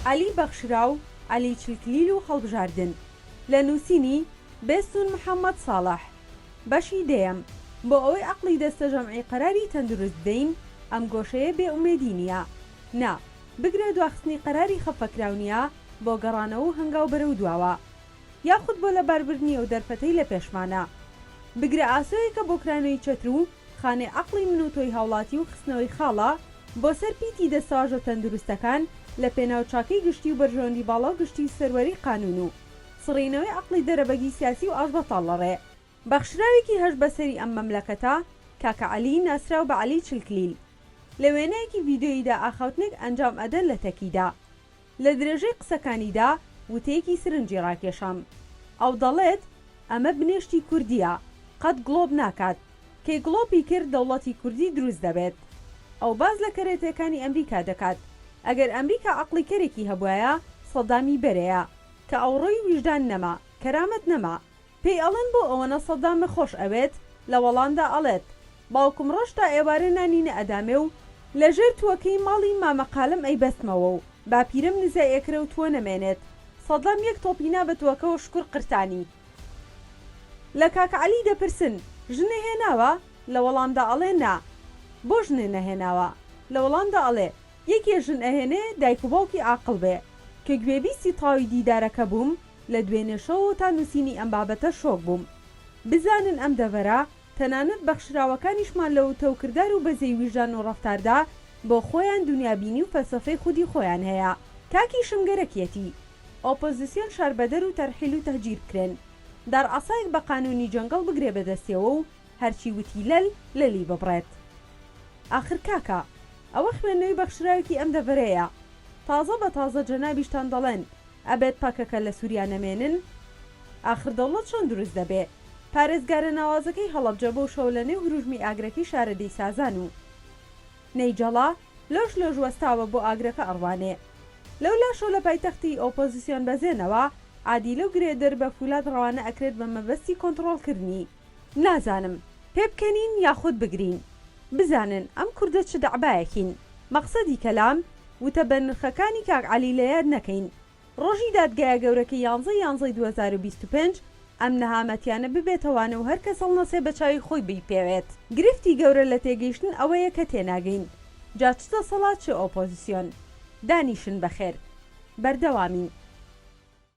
عەلی بەخشراو عەلی چلکلیل و هەڵبژاردن لە نووسینی، بێستوون محەمەد ساڵح، بەشی دەیەم، بۆ ئەوەی عەقڵی دەستە جەمعی قەراری تەندروست بدەین، ئەم گۆشەیە بێ ئومێدی نییە. نا، بگرە دواخستنی قەراری خەفەکراو نییە بۆ گەڕانەوە و هەنگاو بەرەو دواوە. یاخود بۆ لەباربردنی ئەو دەرفەتەی لە پێشمانە. بگرە ئاسۆیەکە بۆ کرانەوەی چەتر و خانەی عەقڵی من و تۆی هاوڵاتی و خستنەوەی خاڵە بۆ سەر پیتی دەستەواژە تەندروستەکان لە پێناو چاکەی گشتی و بەرژەوەندی باڵا و گشتی و سەروەری قانوون و سڕینەوەی عەقڵی دەرەبەگی سیاسی و ئاشبەتاڵ لە ڕێ بەخشراوێکی هەژ بە سەری ئەم مەملەکەتە، کاکە عەلی، ناسراو بە عەلی چلکلیل، لە وێنەیەکی ڤیدیۆییدا ئاخاوتنێک ئەنجام ئەدەن لە تەکیدا. لە درێژەی قسەکانیدا وتەیەکی سرنجی ڕاکێشام. ئەو دەڵێت، ئەمە بنێشتی کوردییە، قەت گڵۆپ ناکات. کەی گڵۆپی کرد دەوڵەتی کوردی دروست دەبێت. ئەو باس لە کەرەتەکانی ئەمریکا دەکات. ئەگەر ئەمریکا عەقڵی کەرێکی هەبوایە، سەدامی بەرەیە. کە ئەوڕۆی ویژدان نەما، کەرامەت نەما، پێی ئەڵێن بۆ ئەوەنە سەدامە خۆش ئەوێت؟ لە وەڵامدا ئەڵێت، باوکم ڕۆژ تا ئێوارێ نانی نەئەدامێ و لە ژێر تووەکەی ماڵی مامە قالم ئەیبەستمەوە و باپیرەم نزای ئەکرێ و تووە نەمێنێت. سەدام یەک تۆپی نا بە تووەکەوە شکور قرتانی. لە کاک عەلی دەپرسن، ژنێ هێناوە؟ لە وەڵامدا ئەڵێ نا. بۆ ژنێ نەهێناوە؟ لە وەڵامدا ئەڵێ، یەکێ ژن ئەهێنێ دایک و باوکی عاقڵ بێ. کە گوێبیستی تاوی دیدارەکە بووم، لە دوێنێ شەوەوە تا نووسینی ئەم بابەتە شۆک بووم. بزانن ئەم دەڤەرە، تەنانەت بەخشراوەکانیشمان لە وتە و کردار و بەزەی ویژدان و ڕەفتاردا، بۆ خۆیان دونیابینی و فەلسەفەی خودی خۆیان هەیە. تاکیشم گەرەکیەتی ئۆپۆزیسیۆن شەربەدەر و تەرحیل و تەهجیر بکرێن. دار عەسایەک بە قانوونی جەنگەڵ بگرێ بە دەستێوە و هەرچی وتی لەل لەلی ببڕێت. ئاخر کاکە، ئەوە خوێندنەوەی بەخشراوێکی ئەم دەڤەرەیە. تازە بە تازە جەنابیشتان دەڵێن، ئەبێت پەکەکە لە سوریا نەمێنن؟ ئاخر دەوڵەت چۆن دروست دەبێ؟ پارێزگارە ناوازەکەی هەڵەبجە بەو شەوە لە نێو هروژمی ئاگرەکەی شارەدێی سازان و نەیجەڵا لۆش لۆش وەستاوە بۆ ئاگرەکە ئەڕوانێ. لەو لاشەو لە پایتەختی ئۆپۆزیسیۆن بەزێنەوە، عادی لەو گرێدر بە فولاد ڕەوانە ئەکرێت بە مەبەستی کۆنتڕۆڵ کردنی. نازانم پێبکەنین یاخود بگرین بزانن ئەم کوردە چ دەعبایەکین مەقسەدی کەلام وتە بەنرخەکانی کاک عەلی لەیاد نەکەین ڕۆژی دادگایە گەورەکەی یانزەی یانزەی دوو هەزار و بیست و پێنج ئەم نەهامەتیانە ببێتە وانەو هەرکەس هەڵنەسێ بەچاوی خۆی بیپێوێت گرفتی گەورە لەتێگەیشتن ئەوەیە کە تێناگەین جا چ دەسەڵات چ ئۆپۆزسیۆن دانیشن بەخێر بەردەوامین.